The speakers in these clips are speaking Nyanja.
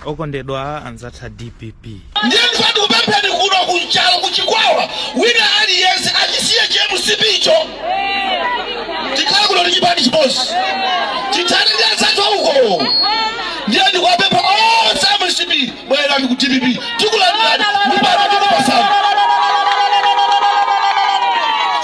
okondedwa anzathawa a dpp ndiye ndifuna ndikupempheni kuno ku nchalo ku chikwawa wina aliyense achisiye cha mcp icho tikhale kuno ndi chipani chimodzi tithane ndi anzathu uko ndiye ndikuwapempha onse a mcp bwererani ku dpp tikulandirani mpanda tikupasani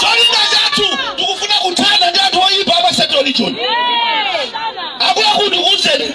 cholinga chathu tikufuna kuthana ndi anthu oyipa amasekero lichoni akuluakulu ndikuuzeni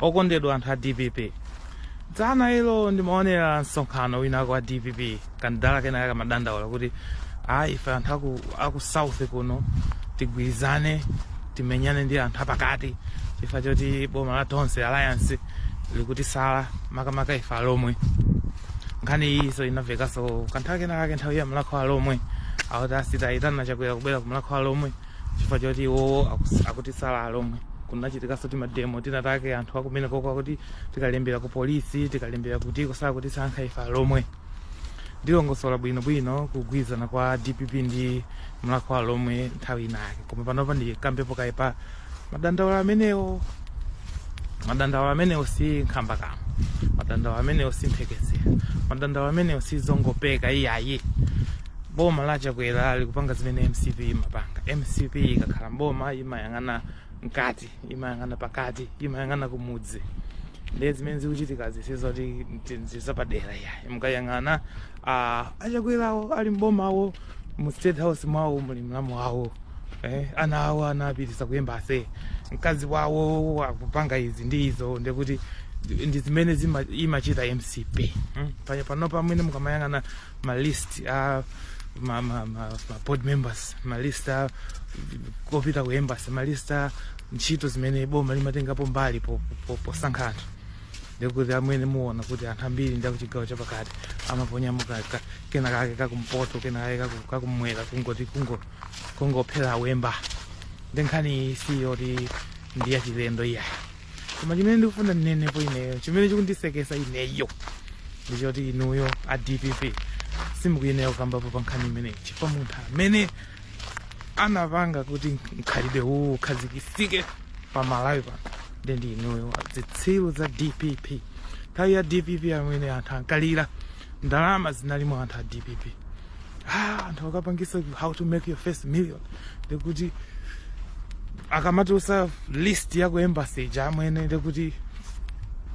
okondedwa anthu a dpp dzana ilo ndimaonera msonkhano winawake wa dpp kandala kenakake kamadandaula kuti ayi ife anthu aku, aku south kuno tigwirizane timenyane ndi anthu apakati chifukwa choti boma la tonse alliance likutisala makamaka ife alomwe nkhani iyiso inamvekanso kanthawi kenakake nthawi ya mlakho wa alomwe akuti asamuyitane chakwera kubwera ku mlakho wa alomwe chifukwa choti iwowo akus- akutisala alomwe kunachitikanso timademo tinatake anthu akumene koko akuti tikalembera ku polisi tikalembera kuti akusala akutisankha ife alomwe ndilongosola bwinobwino kugwirizana kwa dpp ndi mlakho wa alomwe nthawi inake koma panopa ndikambepo kaye pa madandaulo amenewo madandaulo amenewo si nkhambakamwa madandaulo amenewo si mphekesera madandaulo amenewo si zongopeka iyayi boma la chakwera likupanga zimene mcp imapanga mcp ikakhala mboma imayang'ana mkati imayang'ana pakati imayang'ana kumudzi ndiye zimene zikuchitikazi sizoti ndizapadera iyayi mukayang'ana ah, achakwerawo ali mbomawo mu state house mwawo muli mlamu wawo eh, ana awo anapitisa ku embassy mkazi wawo akupanga izi ndi izo ndekuti ndi zimene zima- imachita mcp mm? paya panopa amwene mukamayang'ana ma list a ma, ma, ma, ma board members ma list a kopita ku embassy ma list a ntchito zimene boma limatengapo mbali po- po- posankha anthu ndikuti amwene muona kuti anthu ambiri ndi akuchigawo chapakati amaponyamo ka- ka- kenakake kakumpoto kenakake kaku- kakumwera kungoti kungo- kungophera uyemba nde nkhani iyi si yoti ndi yachilendo iyayi koma chimene ndikufuna ndinenepo ineyo chimene chikundisekesa ineyo ndichoti inuyo a dpp simukuyenera kukambapo pa nkhani imeneyi chifukwa munthu amene anapanga kuti mkhalidwe uwu ukhazikisike pa malawi pano nde ndi inuyo zitsiru za dpp nthawi ya dpp amene anthu ankalira ndalama zinali mwa anthu a dpp ah, anthu akapangisa how to make your first million ndikuti akamatulutsa list ya ku embassy ija amwene ndikuti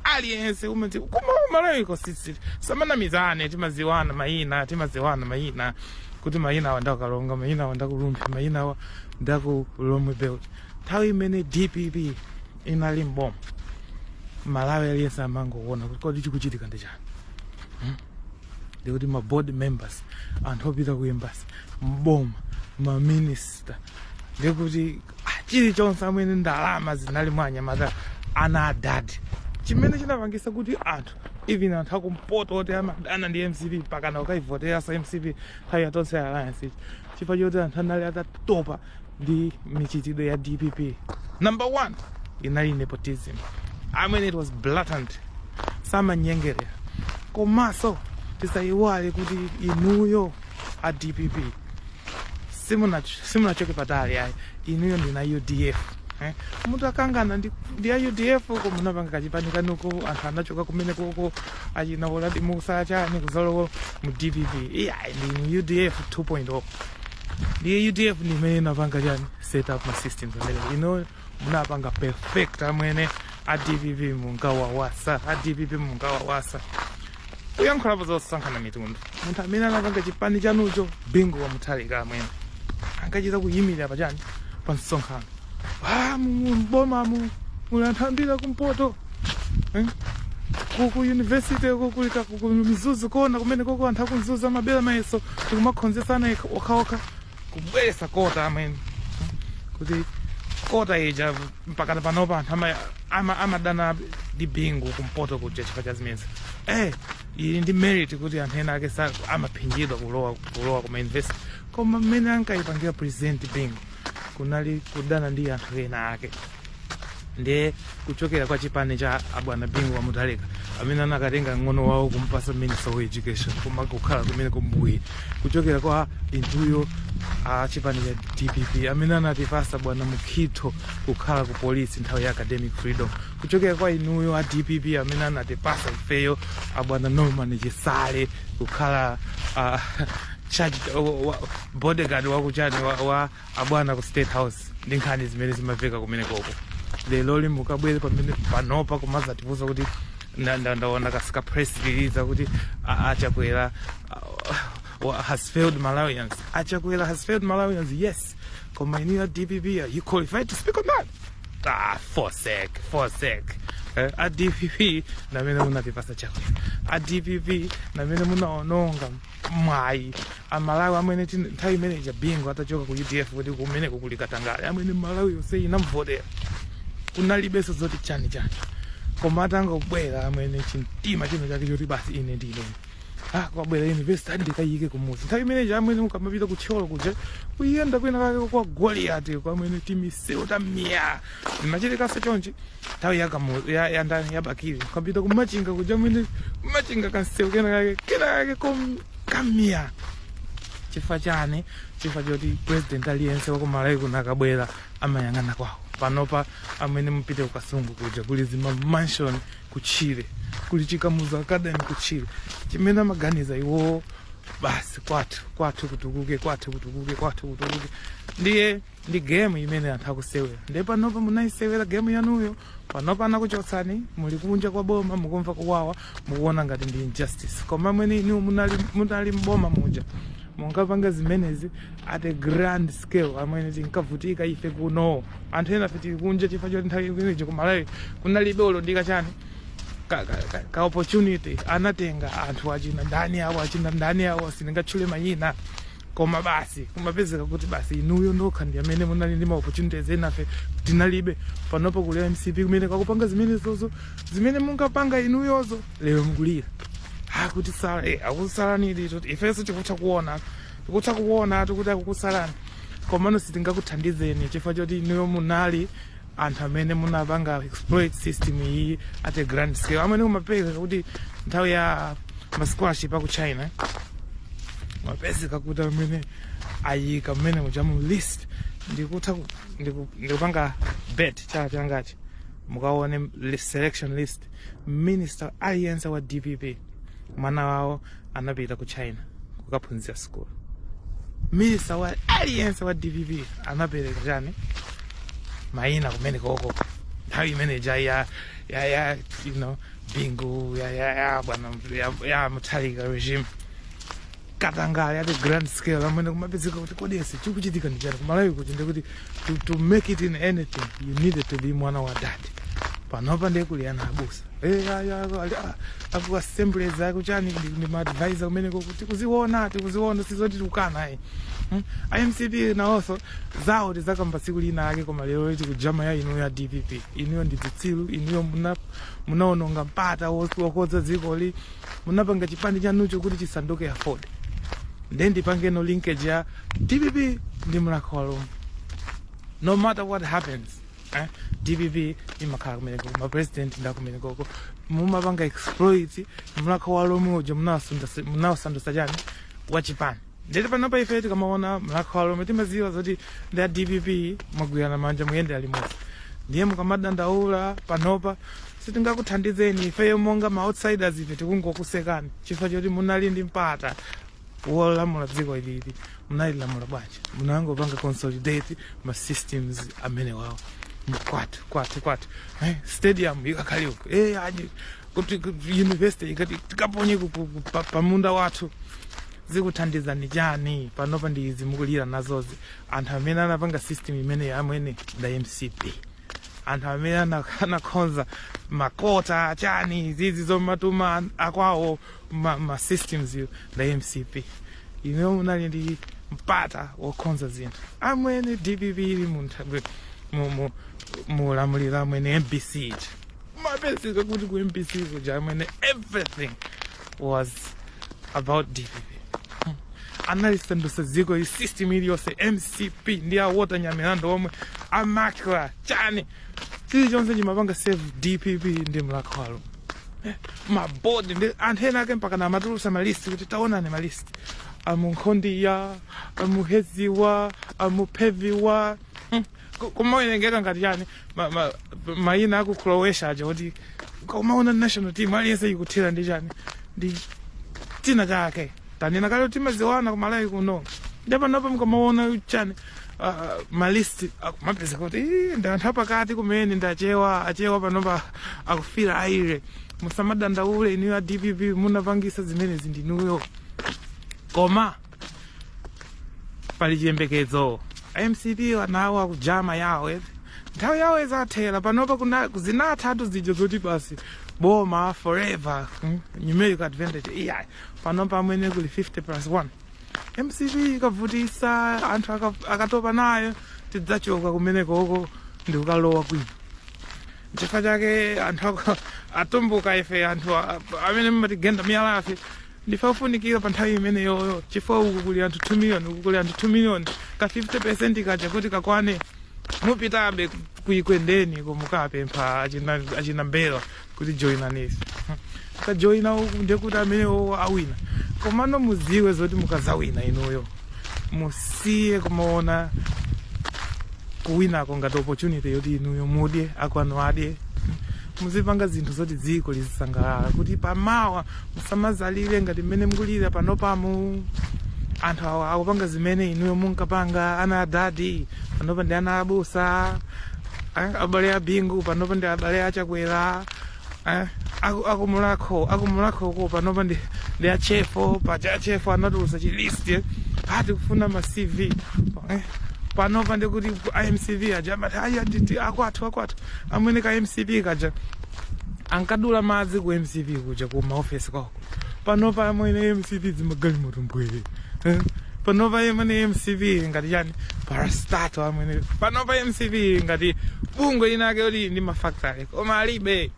aliyense amati koma umaleko sisi samanamizane timaziwana mayina timaziwana mayina kuti mayina awa nda ku Karonga mayina awa nda ku Rumphi mayina awa nda ku Lhomwe belt nthawi imene dpp inali mboma malawi aliyense amangoona kuti kodi chikuchitika ndi chani ndikuti ma board members anthu opita ku embassy mboma ma minister ndikuti ah, chilichonse amwene ndalama zinali mwa anyamata ana adadi chimene chinapangisa kuti anthu even anthu akumpoto oti amadana ndi mcp mpakana kukaivoteratsa mcp nthawi ya Tonse Alliance ija chifukwa choti anthu anali atatopa ndi michitidwe ya dpp number one inali nepotism i mean it was blatant samanyengerera komanso tisayiwale kuti inuyo a dpp simuna- simunachoke patali ayi inuyo ndi a udf eh? mutakangana ndi, ndi a udf ko munapanga kachipani kanuko anthu anachoka kumene koko achina Uladi Mussa chani kuzalowa mu dpp iyayi ndinu udf 2.0 ndiye udf ndi imene inapanga chani set up ma systems amene inuyo munapanga perfect amwene a dpp mungawauze a dpp mungawauze kuyankhulapo zosankhana mitundu munthu amene anapanga chipani chanucho Bingu wa Mutharika amwene ankachita kuyimirira pachani pa msonkhano ah, mu- mu- m'bomamu muli anthu ambiri akumpoto Eh? kuku university ku Karonga ku Mzuzu Corner kumene koko anthu aku Mzuzu amabera mayeso ndikumakhozetsana ekha- okhaokha kubweretsa quota amwene kuti quota ija mpakana panopa anthu ama- ama- amadana ndi bingu kumpoto kuja chifukwa cha zimenezi eh ili ndi merit kuti anthu ena ake sa- amaphinjidwa kulowa kulowa kuma university koma mmene ankayipangira president bingu kunali kudana ndi anthu ena ake ndiye kuchokera kwa chipani cha abwana bingu wa Mutharika amene anakatenga mng'ono wawo kumpasa minister of education koma kukhala kumene kumbuyi kuchokera kwa inuyo a chipani cha dpp amene anatipasa bwana Mukhito kukhala ku polisi nthawi ya academic freedom kuchokera kwa inuyo a dpp amene anatipasa ifeyo abwana norman chisale kukhala uh, charge, wa, wa, bodyguard wakuchani wa, wa abwana ku state house ndi nkhani zimene zimaveka kumene koko lero lino mukabwere pamene panopa kumazatiuza kuti nda- nda- ndaona katsika press release kuti a- achakwera uh, wa- has failed malawians achakwera has failed malawians yes koma inuyo a dpp are you qualified to speak on that ah forsek forsek eh, a dpp ndi amene munatipasa chakwera a dpp ndi amene munaononga mwayi wa amalawi amene tin- nthawi imene ija bingo atachoka ku udf kuti kumeneko kuli katangale amene malawi yonse inamvotera kunalibenso zoti chani chani koma atangobwera amene chimtima chino chake choti basi ine ndine ah kwabwera university ndikayike kumuzi nthawi imeneja amene ukamapita kuthyolo kuja kuyenda kwina kake kwa goliati kwamene timisewu tamiyala zimachitikanso chonchi nthawi ya kamu ya ya ndani ya bakili ukapita kumachinga kuja amene kumachinga kansewu kena kake kena kake kom kamia chifukwa chani chifukwa choti president aliyense wa kumalawi kuno akabwera amayang'ana kwawo panopa amene mupite kukasungu kuja kuli zima mansion kutchire kuli chikamuzu academy kutchire chimene amaganiza iwowo basi kwathu kwathu kutukuke kwathu kutukuke kwathu kutukuke ndiye ndi game imene anthu akusewera nde panopa munayisewera game yanuyo panopa anakuchotsani muli kunja kwa boma mukumva kuwawa mukuona ngati ndi injustice koma mmene inu munali, munali mboma muja munkapanga zimenezi at a grand scale amene tinkavutika ife kuno anthu enafe tili kunja chifukwa choti nthawi imeneyo kumalawi kunalibe olo ndi ka chani ka, ka, ka, ka opportunity anatenga anthu achina ndani awo achina ndani awo sindingatchule mayina koma basi kumapezeka kuti basi inuyo nokha ndi amene munali ndi maopportunities enafe tinalibe panopo kuli mcp kumeneko akupanga zimenezozo zimene munkapanga inuyozo lero mukulira akutisala eh, akusalani lero ifenso tikutha kuona tikutha kuona kuti akukusalani komano sitingakuthandizeni chifukwa choti inuyo munali anthu amene munapanga exploit system iyi at a grand scale amene kumapezeka kuti nthawi ya ma scholarship aku china kumapezeka kuti amene ayika mmene muja mu list ndikutha ku- ndiku- ndikupanga bet chala changachi mukaone li- selection list minister aliyense wa dpp mwana wawo anapita ku china kukaphunzira sukulu minister wa aliyense wa dpp anapereka chani mayina kumene koko nthawi imene ja ya ya ya you know bingu ya ya ya bwana ya, ya mutharika regime katangale at a grand scale amene kumapezeka kuti kodi chikuchitika ndichani kumalawi kuti ndikuti to, to make it in anything you needed to be mwana wa dad panopa ndiye kuli ana abusa Eh, ayi, ayi, ayi, ah, aku assemblies akuchani ndi- ndi maadvisor kumeneko tikuziona tikuziona sizoti tikukana ayi Hmm? a mcp nawonso zawo tizakamba tsiku lina ake koma lero tikujama ya inuyo ya dpp inuyo ndi zitsiru inuyo muna- munaononga mpata wos- wokonza dzikoli munapanga chipani chanucho kuti chisanduke aford nde ndipangeno linkage ya dpp ndi mlakho wa alomwe no matter what happens eh, dpp imakhala kumeneko mapresident ndi akumenekoko mumapanga exploit mlakho wa alomwe uja munawasandasa- munawasandusa chani wachipani ndete panopa ife tikamaona mlakho wa lomwe timaziwa zoti ndi a dpp mwagwirana manja muyendera limodzi ndiye mukamadandaula panopa sitingakuthandizeni ifeyo monga ma outsiders ife tikungokusekani chifukwa choti munali ndi mpata wolamula dziko ilili munalilamula bwanji munangopanga consolidate ma systems amenewawo kwathu kwathu kwathu eh, stadium ikakhali uko eh, aji kuti kuti university ikati tikaponye ku- ku- ku- pa- pamunda wathu zikuthandizani chani panopa ndi izi mukulira nazozi anthu amene anapanga system imene amwene nda mcp anthu amene ana- anakhonza makota chani zizi zomatuma akwawo ma, ma systems yo nda mcp inu munali ndi mpata wokhonza zinthu amwene dpp ili mu ntha- mu- mu- mu ulamuliro amwene mbc ija imapezeka kuti ku mbc kuja amwene everything was about dpp analisandutsa dziko ili system iliyonse mcp ndi a walter nyamilandu omwe amakla chani chilichonse chimapanga serve dpp ndi mlakho wa lomwe ma board ndi anthu ena ake mpakana amatulusa malisti kuti taonani malisti amunkhondiya amuheziwa amupheviwa hmm. Ku- kumawerengeka ngati chani ma- ma- mayina aku croatia aja kuti kumaona national team aliyense ikuthira ndi chani ndi china chake tanena kale timadziwana kumalawi kuno ndepanopa mukamaona chani ah, malist akumapeza kuti "Ih, ndi anthu apakati kumene ndi achewa achewa panopa akufira aire musamadandaule inuyo a dpp munapangisa zimenezi ndinuyo koma pali chiyembekezo a mcp anawo akujama yawo eti nthawi yawo izathera panopa kuna- zinathatu zija zoti basi boma forever mm, numerical advantage iya panopa amwene kuli 50 plus 1 mcp ikavutisa anthu aka- akatopa nayo tidzachoka kumenekoko ndikukalowa kwina chifukwa chake anthu ako- atumbuka ife anthu a- amene mumatigenda miyala ife ndife ofunikira pa nthawi imeneyoyo chifukwa uku kuli anthu 2 miliyoni uku kuli anthu 2 miliyoni ka 50 percent kaja kuti kakwane mupitabe ku ekwendeni ko mukapempha achina, achina mbera kuti joinanisi kajoina uku ndekuti amenewo awina komano muziwe zoti mukazawina inuyo musiye kumaona kuwinako ngati opportunity yoti inuyo mudye akwanu adye muzipanga zinthu zoti dziko lizisangalala kuti pamawa musamazalire ngati mmene mukulira panopamu anthu awa akupanga zimene inuyo munkapanga ana a dadi panopa ndi ana a abusa eh, abale a bingu panopa ndi abale a chakwera eh, aku- akumulakho akumulakhoko panopa ndi ndi achefo paja achefo anatulusa chilisti eh, ati kufuna ma cv eh, panopa ndikuti a mcp aja amati ayi atiti akwathu akwathu amwene ka mcp kaja ankadula madzi ku mcp kuja ku maofesi kwako panopa amwene mcp zimagalimoto mbwee Eh? panopa amwene mcp ngati chani parastatal amwene panopa mcp ngati bungwe linake loti lili ndi mafactory koma alibe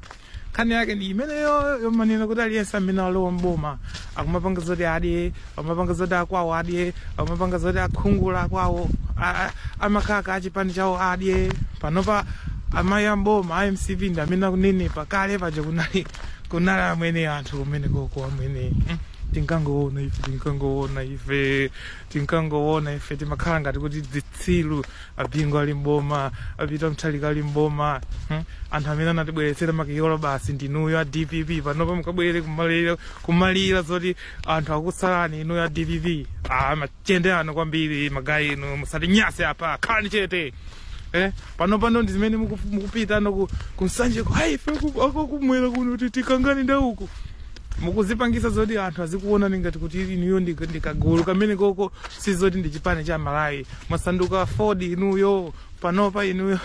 nkhani yake ndi imeneyo yomanena kuti aliyense amene alowa mboma akumapanga zoti adye akumapanga zoti akwawo adye akumapanga zoti akungula kwawo a- a- amakaka achipani chawo adye panopa amagayi amboma a mcp ndi amene akunenepa kale paja kunali kunali amwene anthu kumene koko amwene Mm. tinkangoona ife tinkangoona ife tinkangoona ife timakhala ngati kuti zitsiru abingu ali mboma apita mutharika ali mboma hmm? anthu amene anatibweretsera makiyolo basi ndinuyo a dpp panopa mukabwere kumalira kumalira zoti anthu akusalani inuyo a dpp ah, machende ano kwambiri magayi inu musatinyase apa khalani chete eh? panopa ndo ndi zimene muku- mukupitana ku- kumsanje ku ife akukumwera kuno kuti tikangane ndauku mukuzipangisa zoti anthu azikuonani ngati kuti inuyo ndi ndi kagulu ka komwekoko sizoti ndi chipani cha malawi mwasanduka aford inuyo panopa inuyo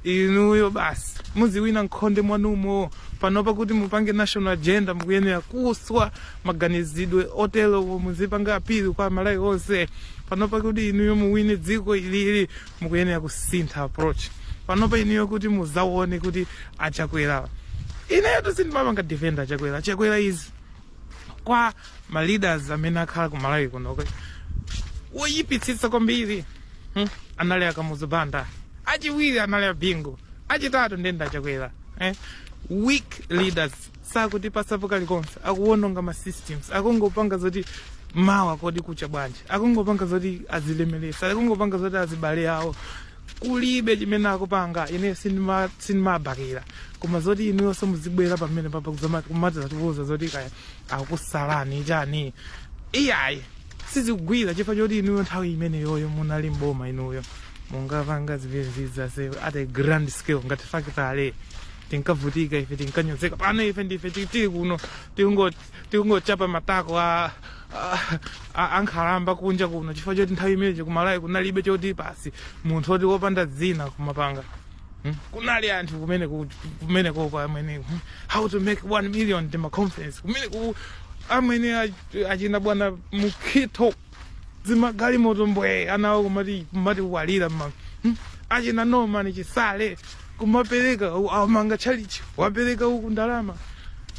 inuyo basi muziwina mkhonde mwanumo panopa kuti mupange national agenda mukuyenera kuswa maganizidwe oterowo muzipanga appeal kwa malawi onse panopa kuti inuyo muwine dziko ilili mukuyenera kusintha approach panopa inuyo kuti muzaone kuti achakwera ineyo sindimapanga defend achakwera achakwera izi kwa ma leaders amene akhala ku malawi kuno kwe- woyipitsitsa kwambiri hmm? anali akamuzu banda achiwiri anali abingu achitatu nde ndi achakwera eh? weak leaders sakutipatsapo kalikonse akuwononga ma systems akungopanga zoti mawa kodi kucha bwanji akungopanga zoti azilemelesa akungopanga zoti azibale awo kulibe chimene akupanga ine sindima- sindimabakira koma zoti inuyonso muzibwera pamene papa kuzama- kumadzatiuza zoti kaya akusalani chani iyayi sizikugwira chifukwa choti inuyo nthawi imeneyoyo munali mboma inuyo munkapanga zimenezizi except at a grand scale ngati factory tinkavutika ife tinkanyozeka pano ife ndife ti- tili kuno tikungo- tikungochapa matako a a- a- ankhalamba kunja kuno chifukwa choti nthawi imeneyo ku Malawi kunalibe choti pasi munthu oti wopanda dzina kumapanga Hmm? kunali anthu kumene ku- kumene koko amene hmm, how to make one million ndi maconference kumene ku amwene ach- achina bwana mukhitho zimagalimoto mbwee anawo kumati kumati walira mama hmm? achina Norman Chisale kumapereka u- amanga tchalitchi wapereka uku ndalama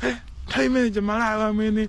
Eh, nthawi imene ija Malawi amwene